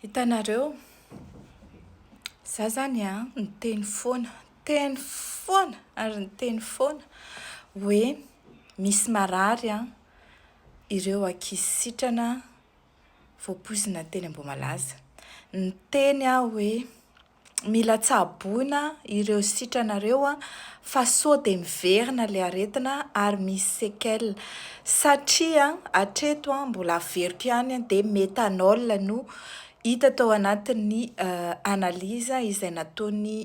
Hitanareo, za zany a, niteny foana, niteny foana ary niteny foana hoe misy marary an, ireo ankizy sitrana voapoizina teny Ambohimalaza. Niteny aho hoe. mila tsaboina ireo sitranareo fa sao dia miverina ilay aretina ary misy séquelles satria hatreto mbola averiko ihany dia méthanol no hita tao anatin'ny analyse izay nataon'ny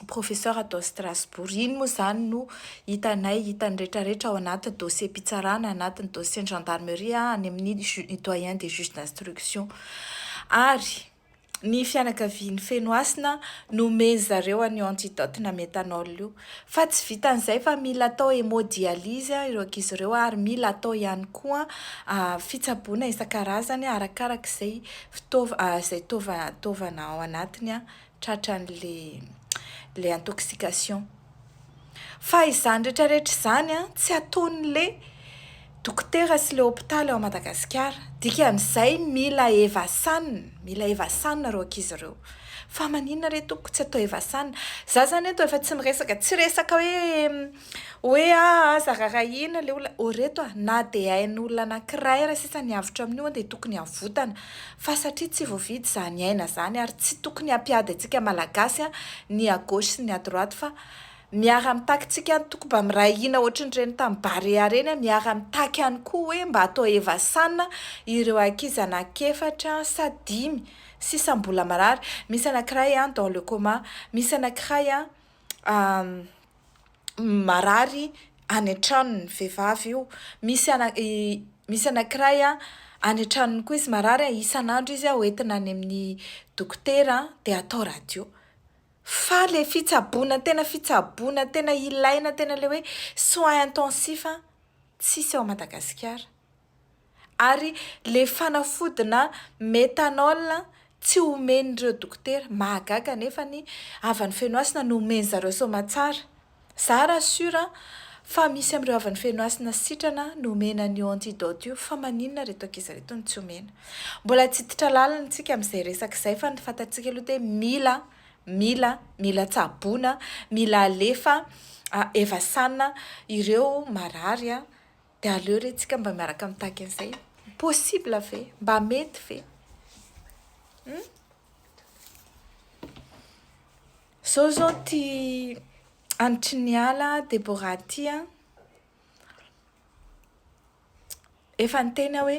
professeur tao Strasbourg. Iny moa izany no hitanay, hitan'ny rehetrarehetra ao anaty dossier-pitsarana, anatin'ny dossier-n'ny gendarmerie, any amin'ny doyen des juges d'instruction. Ary ny fianakavian'i Fenohasina nomen'ny zareo an'io antidote na méthanol io. Fa tsy vitan'izay fa mila atao hémodialyse ireo ankizy ireo ary mila atao ihany koa fitsaboana isan-karazany arakaraky izay fitaova- izay taova- taovana ao anatiny. tratran'le le intoxication. Fa izany retraretra izany an, tsy ataon'le dokotera sy le hopitaly ao Madagasikara. Dikan'izay mila evasan, mila evasan ireo ankizy ireo. Fa maninona re tompoko tsy atao evasan. Za zany eto efa tsy miresaka, tsy resaka hoe Hoe ah aza rarahina le olona oh reto ah na de ain'olona anakiray aza sisa ny avotra amin'io an de tokony avotana fa satria tsy voavidy izany aina zany ary tsy tokony ampiady antsika malagasy an ny à gauche sy ny à droite fa miara mitaky tsika an toko mba miray hina ohatry ny reny tam barea reny an miara mitaky ihany koa hoe mba atao hevasan ireo ankizy anaky efatra sa dimy sisa mbola marary misy anakiray an dans le coma misy anakiray an marary any an-tranony, vehivavy io, misy ana i misy anankiray a any an-tranony koa izy marary a, isan'andro izy a hoentina any amin'ny dokotera a dia atao radio, fa le fitsaboana tena fitsaboana tena ilaina tena le hoe soins intensifs a tsisy ao Madagasikara. Ary le fanafodina methanol tsy omen'ireo dokotera, mahagaga nefa ny havan'i Fenohasina no omen'i zareo soamatsara. Za ra sur fa misy amin'ireo havan'i Fenohasina sitrana no omena an'io antidote io fa maninona reto ankizy reto no tsy omena. Mbola tsy hiditra lalina tsika amin'izay resaka izay fa ny fantatsika aloha dia mila, mila, mila tsaboina, mila alefa, evasana ireo marary a. De aleo re tsika mba miaraka mitaky an'izay possible ve? Mba mety ve? Hum? Zao zao ty anitry ny ala Deborah ty an. Efa niteny aho hoe.